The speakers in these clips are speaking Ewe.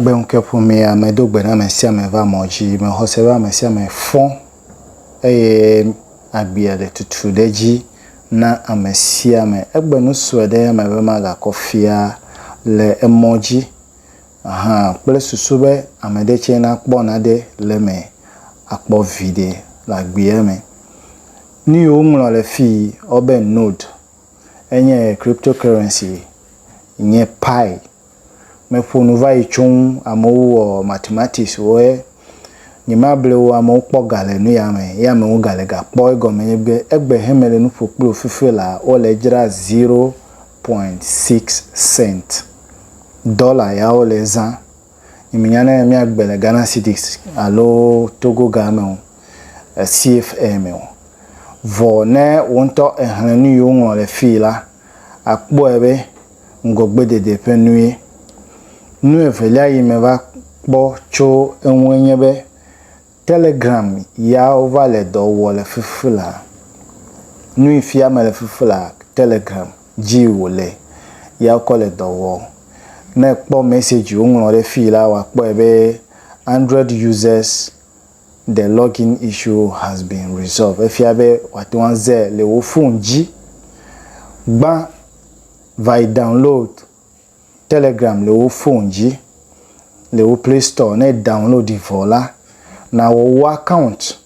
Gbe ŋke ƒomea, medo gbe na ame sia ame va mɔ dzi. Mexɔ se be ame sia ame fɔ, eye agbea le tutu ɖe edzi na ame sia ame. Egbe nu sue ɖe eme be magakɔ fia le emɔ dzi hã kple susu be ame ɖe tsɛ nakpɔ naɖe le eme akpɔ viɖe le agbea me. Nu yi woŋlɔ le fii wobe node enye cryptocurrency, nye Pi meƒo nu va yi tso ŋu, amewo wɔ mathematics wo ye nye ma ble wo amewo kpɔ ga le nu ya me ye amewo ga le ga kpɔ egɔme nye be egbe he me le nu ƒo kpli wo fifi la wo le dzra zero point six cent dollar ya wo le za nye me nya ne mia gbe le Ghana cedis alo Togo ga me o CFA me o vɔ ne wo ŋutɔ ehle nu yi wo ŋlɔ le fii la akpɔe be ŋgɔgbedede ƒe nue. Nu evelia yi meva kpɔ tso eŋue nye be Telegram ya wova le dɔ wɔ le fifi la. Nui fia mele fifi la, Telegram dzi wòle ya wokɔ le dɔ wɔ. Ne ekpɔ message woŋlɔ ɖe fii la, wòakpɔe be Android users The login issue has been resolved, efia be wòate ŋu aze le wò fon dzi. Gbã va yi download Telegram le wò fon dzi le wò Play Store. Ne downloadi vɔ la, nawɔ wò account.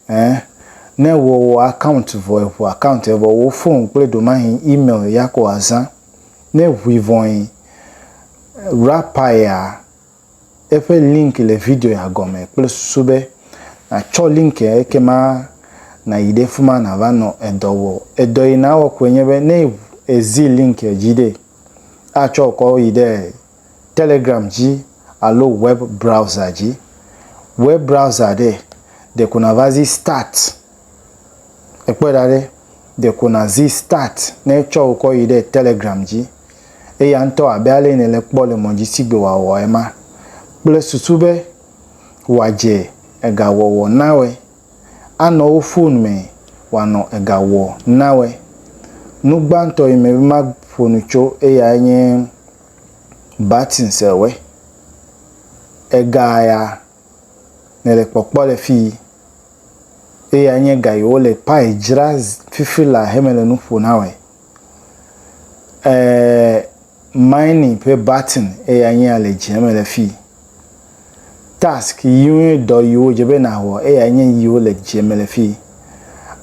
Ẽ, ne èwɔ wò account vɔ, èŋu account ya vɔ, wò fon kple ɖomahin email ya ko wòazã. Ne eŋui vɔe, rapaea, Eƒe link le video ya gɔme kple susu be nàtsɔ link ya ekema nàyi ɖe fima nàva nɔ edɔ wɔ. Edɔ yi nàwɔ koe nye be ne èzi link ya dzi ɖe, atsɔ wò kɔ yi ɖe Telegram dzi alo web browser dzi. Web browser ɖe, ɖeko nàva zi start. Ekpɔe ɖa ɖe, ɖeko nàzi start ne etsɔ wò kɔ yi ɖe Telegram dzi. Eya ŋutɔ abe ale yi nèle kpɔ le mɔ dzi sigbe wòawɔ ema, kple susu be wòadze ega wɔwɔ nawe, anɔ wò fon me wòanɔ ega wɔ nawe. Nu gbãtɔ yi mebe maƒo nu tso eyae nye buttons ewe. Ega ya. Mele kpɔkpɔ le fii. Eya nye ga yi wole payi dzra fifi la he mele nu ƒo na wɔe. Eee mining ƒe button eya nye ya le dzia mele fii. Task yiwo dɔ yi wodze be na wɔ eya nye yi wole dzia mele fii.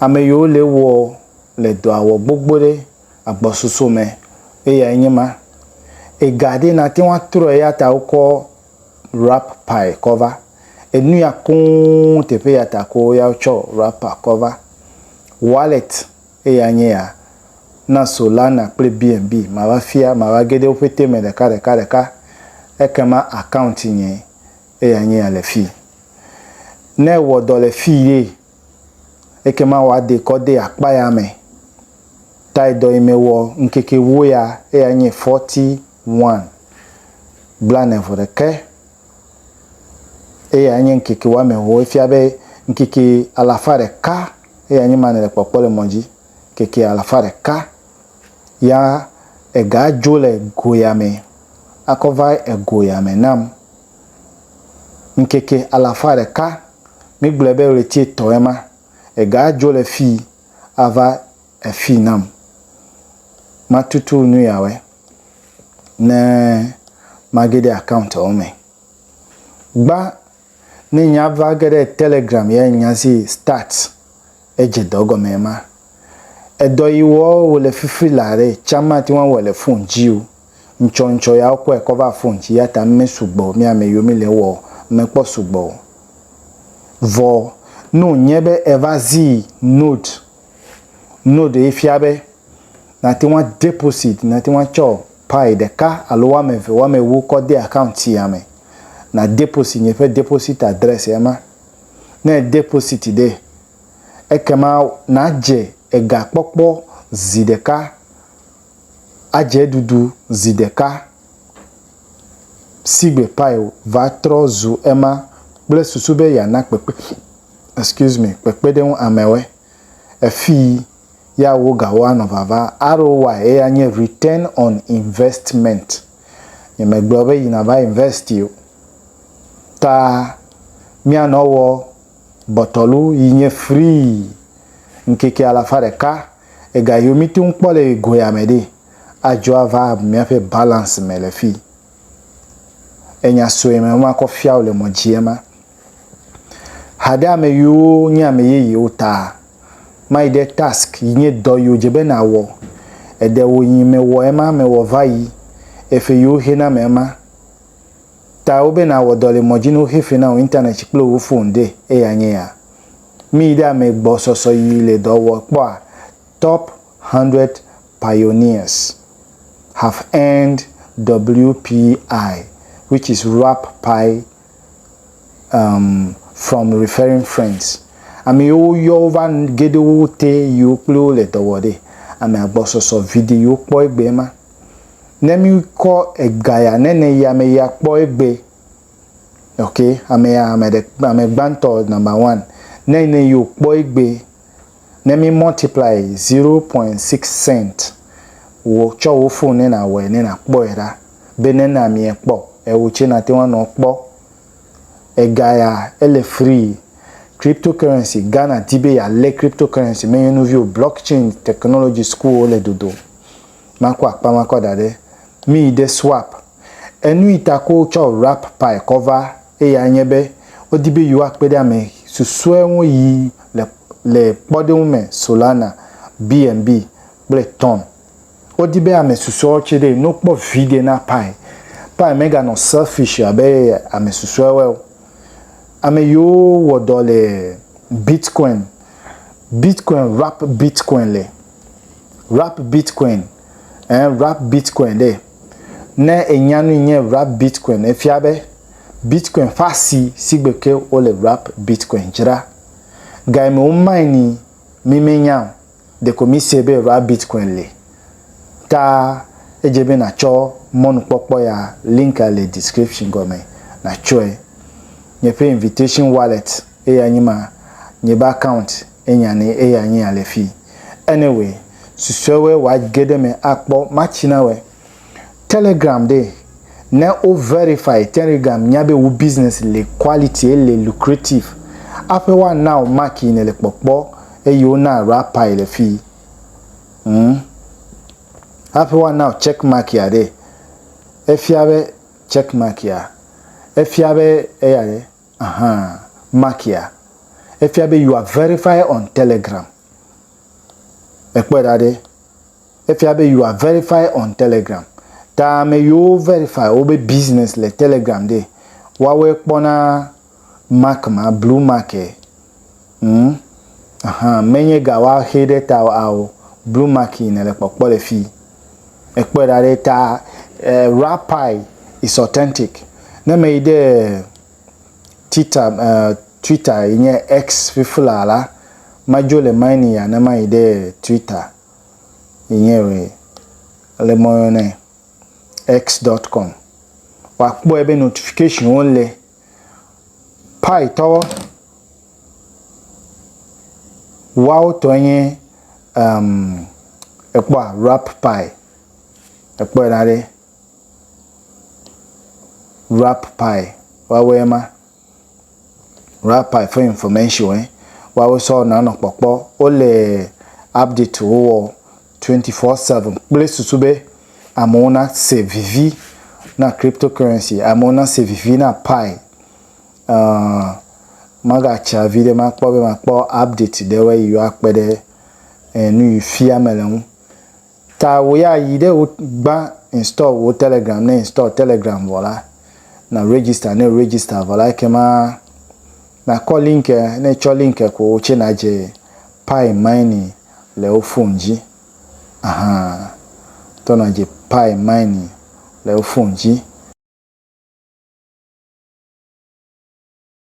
Ame yi wole wɔ le dɔa wɔ gbogbo ɖe agbɔsoso me eya nye ma. Ega ɖe na teŋ atrɔe eya ta wokɔ wrap pae kɔ va. Enuya koŋ teƒe ya ta ko ya tsɔ wrapper kɔ va. Wallet eya nye ya. Na Solana kple BNB mava fia mava ge ɖe woƒe te me ɖeka ɖeka ɖeka. Ekema account nye eya nye ya le fi. Ne ewɔ dɔ le fi ye ekema wa de kɔ de akpa ya me. Tae dɔ yi me wɔ ŋkeke wo ya eya nye forty Ŋwan blaene-vɔ ɖekɛ eye anye ŋkeke woame ewo. Efia be ŋkeke alafa ɖeka eye anye ma nele kpɔkpɔ le mɔ dzi. Ŋkeke alafa ɖeka ya ega dzo le go ya me akɔ va ego ya me nam. Ŋkeke alafa ɖeka, mi gblɔe be ɣleti etɔ ema, ega dzo le fii ava efii nam. Ma tutu nu ya wɛ. ne mage ɖe account wo me. Gba ne nye ava ge ɖe telegram ye nya si start edze dɔ gɔme ma. Edɔ yi wɔ wo le fifri la ɖe tsã mate ŋu awɔ le phone dzi o. Ŋtsɔ ŋtsɔ ya wo kɔe kɔ va phone dzi yata me sugbɔ mi ame yiwo mi le wɔ me kpɔ sugbɔ o. Vɔ ne wo nye be eva zi note Node ye fia be nàte ŋu adeposit, nàte ŋu atsɔ Pi ɖeka alo woame eve, woame ewo kɔ de account sia me. Nàdeposit nye ƒe deposit adrɛs ema. Ne èdeposit ɖe, ekema nàdze ega kpɔkpɔ zi ɖeka, adze eɖuɖu zi ɖeka. Sigbe Pyle va trɔ zu ema kple susu be yeana kpekpe, excuse me, kpekpeɖeŋu amewe. Efii, ya wo gawo anɔ vava, ROI eye anye Return on Investment. Nyemegblɔ be yi nava invest o. Ta mianɔ wɔ bɔtɔlu yi nye free ŋkeke alafa ɖeka ega yi wo mite ŋu kpɔ le yi goya me ɖee. adzɔ ava miaƒe balance me le fii. Enya sue me makɔ fia wò le mɔ dzie ma. Ha ɖe ame yiwo nye ame yeyewo ta mayi ɖe task yi nye dɔ yiwo dze be nawɔ. Eɖe wò yi me wɔ ema me wɔ va yi efe yiwo xe na me ema ta wo be nawɔ dɔ le mɔ dzi ne woxe fe na wò internet kple wò phone ɖe eya nye ya. Miyi ɖe ame gbɔ sɔsɔ yi le dɔ wɔ kpɔa top hundred Pioneers have earned WPI, which is Wrap Pi um from Referring Friends, ame yiwo woyɔ wo va nu ge ɖe wo te yiwo kple wo le dɔ wɔ ɖe. Ame agbɔsɔsɔ viɖe yiwo kpɔ egbee ma. Ne míkɔ ega ya nɛnɛ yi ame ya kpɔ egbe. Ok, ame ya, ame ɖe, ame gbãtɔ, number one, nɛnɛ yi wòkpɔ egbe. ne mi multiply zero point six cent wò tsɔ wò phone ne na wɔe ne na kpɔe ɖa be ne na mi ekpɔ ewò tse na te ŋu anɔ kpɔ ega ya ele free crypto currency Ghana di be ya le crypto currency me nye nuviwo block chain technology school wo le dodom ma kɔ akpa ma kɔ da ɖe mi yi de swape Enui ta ko wotsɔ Wrap Pie kɔ va, eyae nye be wodi be yewoakpe ɖe ame susɔe ŋu yi le le kpɔɖeŋu me Solana, BNB, kple Ton. Wodi be ame susɔewo tse ɖe no kpɔ viɖe na Pie. Pie meganɔ selfish abe ame susɔewoe o. Ame yiwo wɔ dɔ le Bitcoin, Bitcoin Wrap Bitcoin le Wrap Bitcoin Eh wrap Bitcoin ɖe. Ne ènya nu yi nye wrap Bitcoin efia be Bitcoin ƒe asi sigbe ke wole wrap Bitcoin dzra. Ga yi me wo mine-ni mi menya o, ɖeko mi se be wrap Bitcoin li. Ta edze be natsɔ mɔnukpɔkpɔ ya, link a le description gɔme, natsɔe. Nye ƒe Invitation Wallet eyae nye ma, nye be account enyane eyae nye ya le fii. Anyway, susɔewoe wa ge ɖe me akpɔ matsi na wɔe. Telegram ɖee, ne wo verify Tenrigram nya be wo business le quality ele lucrative aƒe woa nao mark yi ne le kpɔkpɔ eye wo na rapper yi le fii humm aƒe woa nao check mark ya ɖee efia be check mark ya efia be eya ɖe. Ahã, Makia, efia be you are verified on Telegram. Ekpɔe ɖa ɖe. Efia be you are verified on Telegram. Ta ame yiwo wo verify wobe business le Telegram ɖe, woawɔe kpɔ na mark ma, blue mark e. Ŋm, ahan, menye ga woa xe ɖe ta o ao, blue marking nèle kpɔkpɔ le fi. Èkpɔe ɖa ɖe ta eh, raw pie is authentic. Ne meyi ɖe Twitter eh, Twitter yi nye X fiflaa la, madzo le mine ya ne mayi ɖe Twitter yi nye re, le mɔyɔnɛ, X dot com. Woakpɔe be notification wo le. Paitɔwo, woawo tɔe nye um, ekpɔa rap pai, ekpɔe ɖa ɖe. Rap pai, woawoe ma. Rap pai ƒe information woawo sɔ nanɔ kpɔkpɔ. Wole update wo wɔ. 24/7 kple susu be amewo nase vivi na cryptocurrency, amewo nase vivi na Pi. Ãa, magatsa viɖe makpɔ be makpɔ update ɖewoe yi wa kpe ɖe eh, nu yi fia mele ŋu. Ta wò ya yi ɖe wo gbã install wò Telegram, ne install Telegram vɔ la, na register, ne register vɔ la ekema nakɔ link, ne tsɔ link ko wò tse nadze Pi mining le wo fon dzi ahan tɔna dzi pai mine le wo fon dzi.